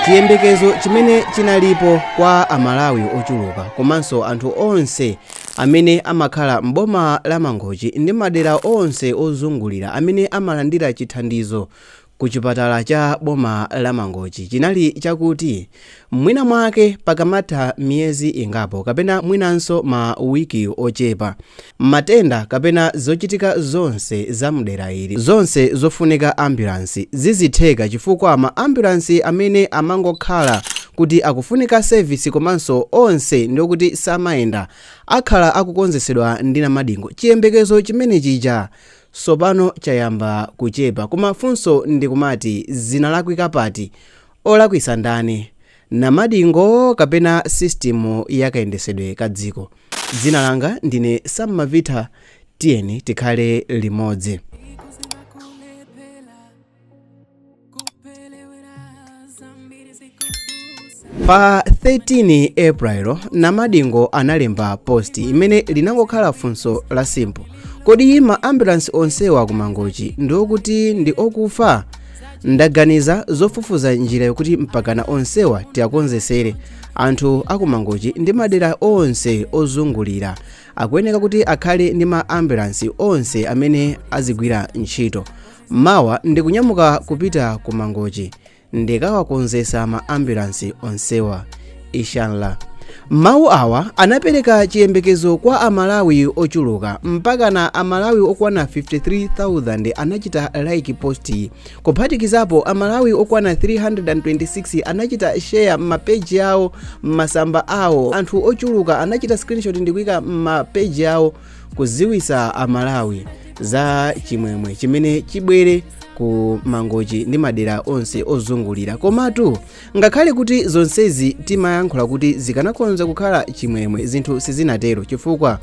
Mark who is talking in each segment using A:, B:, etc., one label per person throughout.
A: Chiyembekezo chimene chinalipo kwa Amalawi ochuluka komanso anthu onse amene amakhala m'boma la Mangochi ndi madera onse ozungulira amene amalandira chithandizo kuchipatala cha boma la Mangochi chinali chakuti mwina mwake pakamatha miyezi ingapo kapena mwinanso ma wiki ochepa Matenda kapena zochitika zonse za mdera ili zonse zofunika ambulance zidzitheka chifukwa ma ambulance amene amangokhala kuti akufunika service komanso onse ndiokuti samayenda akhala akukonzesedwa ndi Namadingo chiyembekezo chimene chija sopano chayamba kuchepa koma funso ndikumati zinalakwika pati? Olakwisa ndani? Namadingo kapena system ya kayendesedwe ka dziko. Dzina langa ndine Sam Mavitha tiyeni tikhale limodzi. Pa 13 April, Namadingo analemba post imene inangokhala funso la simple. Kodi ma ambulance onsewa ku Mangochi ndi okuti ndi okufa? ndaganiza zofufuza njira yokuti mpakana onsewa tiakonzesere anthu aku mangochi ndi madera onse ozungulira akuyeneka kuti akhale ndi ma ambulansi onse amene azigwira ntchito mawa ndikunyamuka kupita ku mangochi ndikawakonzesa ma ambulansi onsewa inshallah mawu awa anapereka chiyembekezo kwa amalawi ochuluka mpakana amalawi okwana 53000 anachita like posti kuphatikizapo amalawi okwana 326 anachita share m'mapeji awo m'masamba awo anthu ochuluka anachita screenshot ndikuika m'mapeji awo kuziwisa amalawi za chimwemwe chimene chibwere ku mangochi ndi madera onse ozungulira komatu Ngakhale kuti zonsezi timayankhula kuti zikanakhonza kukhala chimwemwe zinthu sizinatero chifukwa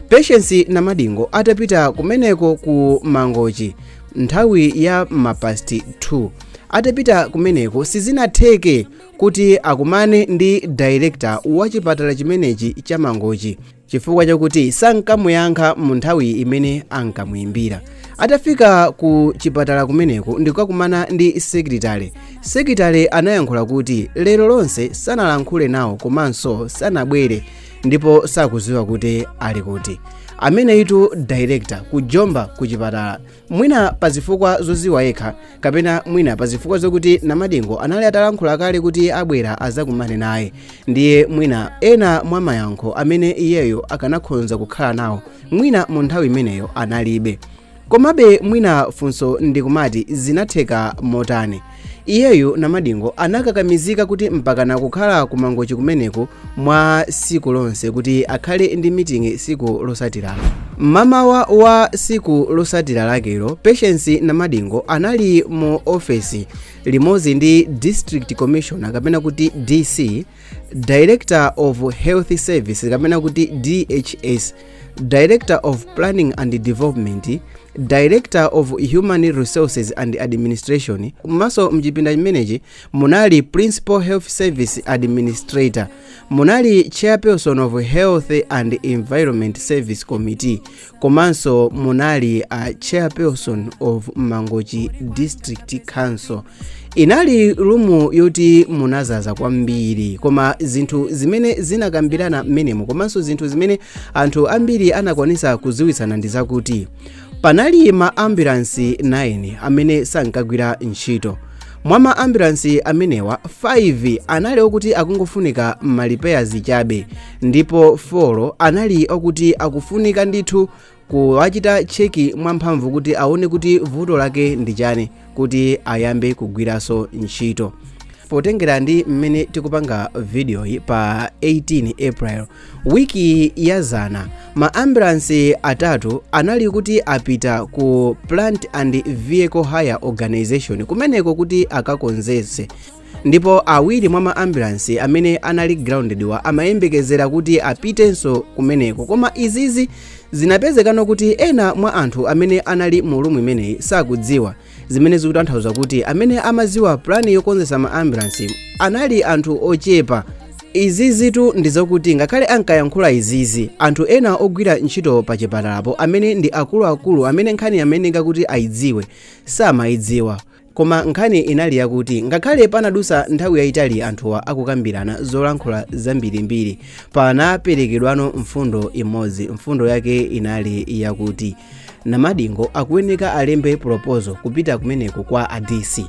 A: Patience Namadingo atapita kumeneko ku Mangochi nthawi ya mapasti 2 atapita kumeneko sizinatheke kuti akumane ndi director wa chipatala chimenechi cha Mangochi chifukwa chakuti sankamuyankha mu nthawi imene ankamuyimbira atafika ku chipatala kumeneko ndikukakumana ndi secretary secretary anayankhula kuti lero lonse sanalankhule nawo komanso sanabwere ndipo sakuziwa kuti ali kuti ameneyitu director kujomba ku chipatala mwina pa zifukwa zoziwa yekha kapena mwina pa zifukwa zokuti namadingo anali atalankhula kale kuti abwera azakumane naye ndiye mwina ena mwa mayankho amene iyeyo akanakhonza kukhala nawo mwina mu nthawi imeneyo analibe komabe mwina funso ndikumati zinatheka motani Iyeyu Namadingo anakakamizika kuti mpakana kukhala ku Mangochi kumeneku mwa siku lonse kuti akhale ndi meeting siku losatira. Mmamawa wa siku losatira lakelo, Patience Namadingo anali mu ofesi limodzi ndi District Commissioner kapena kuti DC director of health service kapena kuti dhs director of planning and development director of human resources and administration komanso mchipinda chimenechi munali principal health service administrator munali chairperson of health and environment service committee komanso munali a chairperson of mangochi district council inali rumu yoti munazaza kwambiri koma zinthu zimene zinakambirana mmenemo komanso zinthu zimene anthu ambiri anakwanisa kuziwitsana ndi zakuti panali ma ambulansi 9 amene sankagwira ntchito mwa ma ambulansi amenewa 5 anali okuti akungofunika ma repairs chabe ndipo 4 anali okuti akufunika ndithu kuwachita cheki mwamphamvu kuti aone kuti vuto lake ndi chani kuti ayambe kugwiranso ntchito potengera ndi mmene tikupanga vidiyoyi pa 18 april wiki yazana ma ambulansi atatu anali kuti apita ku plant and vehicle hire organization kumeneko kuti akakonzetse ndipo awiri mwa maambulansi amene anali grounded wa amayembekezera kuti apitenso kumeneko koma izizi zinapezekano kuti ena mwa anthu amene anali mu rumu imeneyi sakudziwa zimene zikutanthauza kuti amene amadziwa pulani yokonzesa maambulansi anali anthu ochepa izizitu ndi zokuti ngakhale ankayankhula izizi anthu ena ogwira ntchito pa chipatalapo amene ndi akuluakulu amene nkhani amayeneka kuti ayidziwe samayidziwa Koma nkhani inali yakuti ngakhale panadutsa nthawi yayitali anthuwa akukambirana zolankhula zambirimbiri, panaperekedwano mfundo imodzi. Mfundo yake inali yakuti Namadingo akuyeneka alembe proposal kupita kumeneko kwa a DC.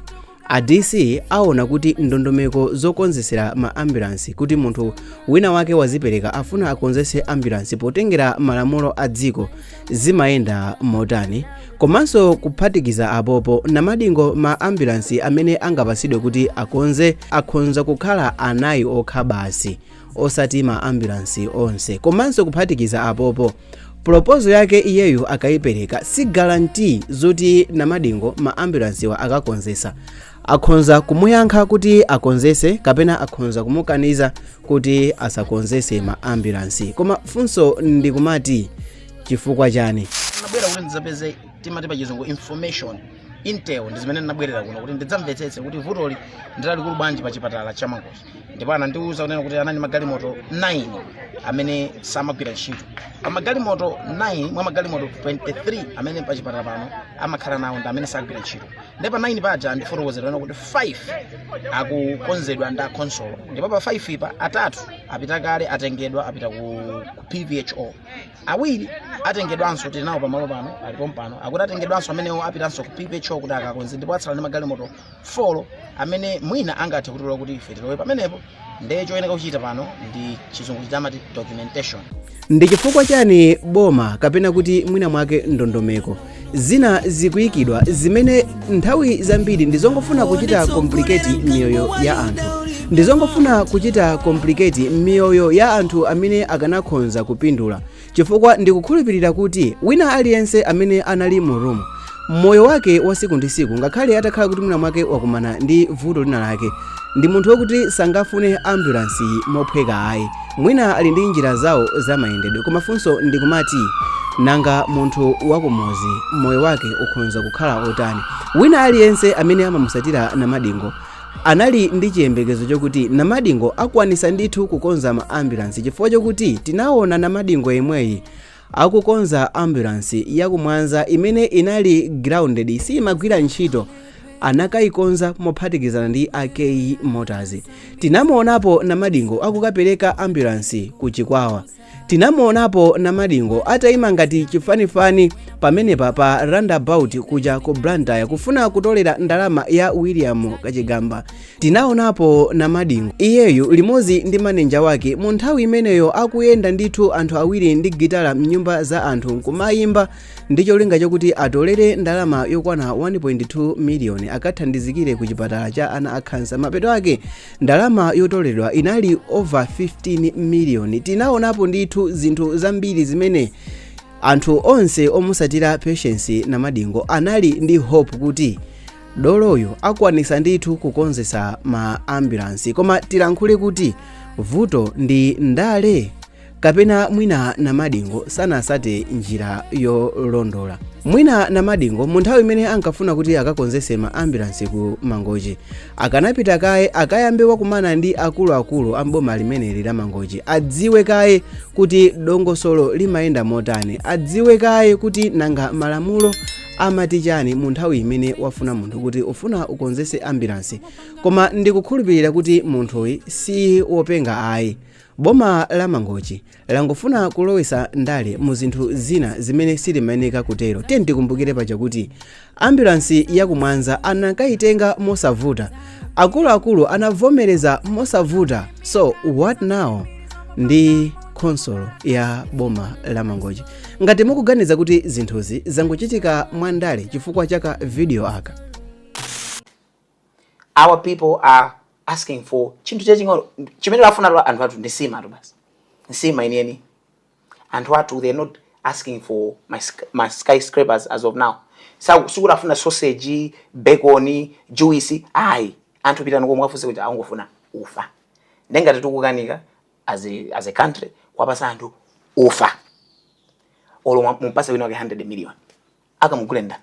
A: A DC aona kuti ndondomeko zokonzetsera ma ambulansi kuti munthu wina wake wazipereka afuna akonzetse ambulansi potengera malamulo a dziko zimayenda motani komanso kuphatikiza apopo namadingo ma ambulansi amene angapasidwe kuti akonze akhonza kukhala anayi okha basi osati ma ambulansi onse komanso kuphatikiza apopo proposal yake iyeyu akayipereka si guarantee zoti namadingo ma ambulansiwa akakonzesa akhonza kumuyankha kuti akonzese kapena akhonza kumukaniza kuti asakonzese ma ambulance koma funso ndikumati chifukwa chani nabwera kuti
B: ndidzapeze timati pa chizungu information intel ndi zimene nabwerera kuno kuti ndidzamvetsetse kuti vutoli ndilalikulu bwanji pa chipatala cha mangochi ndipo anandiwuza kunena kuti anali magalimoto 9 amene samagwira ntchito magalimoto 9 mwa magalimoto 23 amene pa chipatala pano amakhala nawo ndi amene sagwira ntchito ndipo 9 paja andifotokozera kuti 5 akukonzedwa ndi akhonsolo ndipo pa 5 apa atatu apita kale atengedwa apita ku, ku pvho awiri atengedwanso tili nawo pamalo pano ali pompano akuti atengedwanso amenewo apitanso ku pvho kuti akakonze ndipo atsala ndi magalimoto folo amene mwina angathe kutilola kuti ife tilowe pamenepo ndiye choyeneka kuchita pano ndi chizungu chija amati documentation ndi chifukwa
A: chani boma kapena kuti mwina mwake ndondomeko zina zikuyikidwa zimene nthawi zambiri ndizongofuna kuchita complicate miyoyo ya anthu ndizongofuna kuchita complicate miyoyo ya anthu amene akanakhonza kupindula chifukwa ndikukhulupirira kuti wina aliyense amene anali mu room moyo wake wa siku ndi siku ngakhale atakhala kuti mwina mwake wakumana ndi vuto lina lake ndi munthu wokuti sangafune ambulansi mophweka ayi mwina ali ndi njira zawo za mayendedwe koma funso ndikumati nanga munthu wakumuzi moyo wake ukhonza kukhala otani wina aliyense amene amamusatira namadingo Anali ndi chiyembekezo chokuti Namadingo akwanisa ndithu kukonza ma ambulance chifukwa chokuti tinawona Namadingo yemweyi akukonza ambulance ya ku Mwanza imene inali grounded siyimagwira ntchito anakayikonza mophatikizana ndi a K motors. Tinamuonapo Namadingo akukapereka ambulance ku Chikwawa. tinamuonapo namadingo ataima ngati chifanifani pamenepa pa roundabout kuja ku blantyre kufuna kutolera ndalama ya william kachigamba tinaonapo namadingo iyeyu limodzi ndi manenja wake mu nthawi imeneyo akuyenda ndithu anthu awiri ndi gitala mnyumba za anthu kumayimba ndi cholinga chakuti atolere ndalama yokwana 1.2 miliyoni akathandizikire ku chipatala cha ana akhansa mapeto ake ndalama yotoleredwa inali over 15 miliyoni tinaonapo ndithu zinthu zambiri zimene anthu onse omusatira patience namadingo anali ndi hope kuti doloyo akwanisa ndithu kukonzesa ma ambulansi koma tilankhule kuti vuto ndi ndale kapena mwina namadingo sanasate njira yolondola mwina namadingo mu nthawi imene ankafuna kuti akakonzese ma ambulansi ku mangochi akanapita kaye akayambe wakumana ndi akuluakulu a mboma limeneli la mangochi adziwe kaye kuti dongosolo limayenda motani adziwe kaye kuti nanga malamulo amati chani mu nthawi imene wafuna munthu kuti ufuna ukonzese ambulansi koma ndikukhulupirira kuti munthuyi si wopenga ayi boma la mangochi langofuna kulowesa ndale mu zinthu zina zimene silimayeneka kutero tiyeni tikumbukire paja kuti ambulansi yakumwanza anakayitenga mosavuta akuluakulu anavomereza mosavuta so what now ndi khonsolo ya boma la mangochi ngati mukuganiza kuti zinthuzi zangochitika mwandale chifukwa cha ka video aka
B: our people are asking for chinthu chaching'ono chimene afuna tu anthu athu ndi nsima tu basi nsima imeneyi anthu athu they're not asking for my, sk- my skyscrapers as of now Sa- sikuti afuna sausage bacon juice ayi anthu pitani komwe afunse kuti angofuna ufa ndengati tikukanika as a, as a country kuwapasa anthu ufa olo mwa- mumpase wina wake 100 million akamugule ndani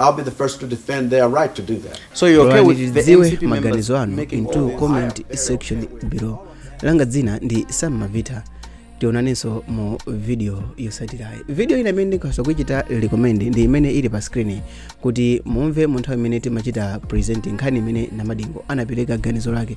C: I'll be the first to defend their right to do that. So you're okay with
B: the ndidziwe MCP members
A: maganizo
B: anu mu comment section
A: below langa dzina ndi sam mavita tionanenso mu video yosatirayi video ina imene ndikhosa kuichita recommend ndi imene ili pa screen kuti mumve mu nthawi imene timachita present nkhani imene namadingo anapereka ganizo lake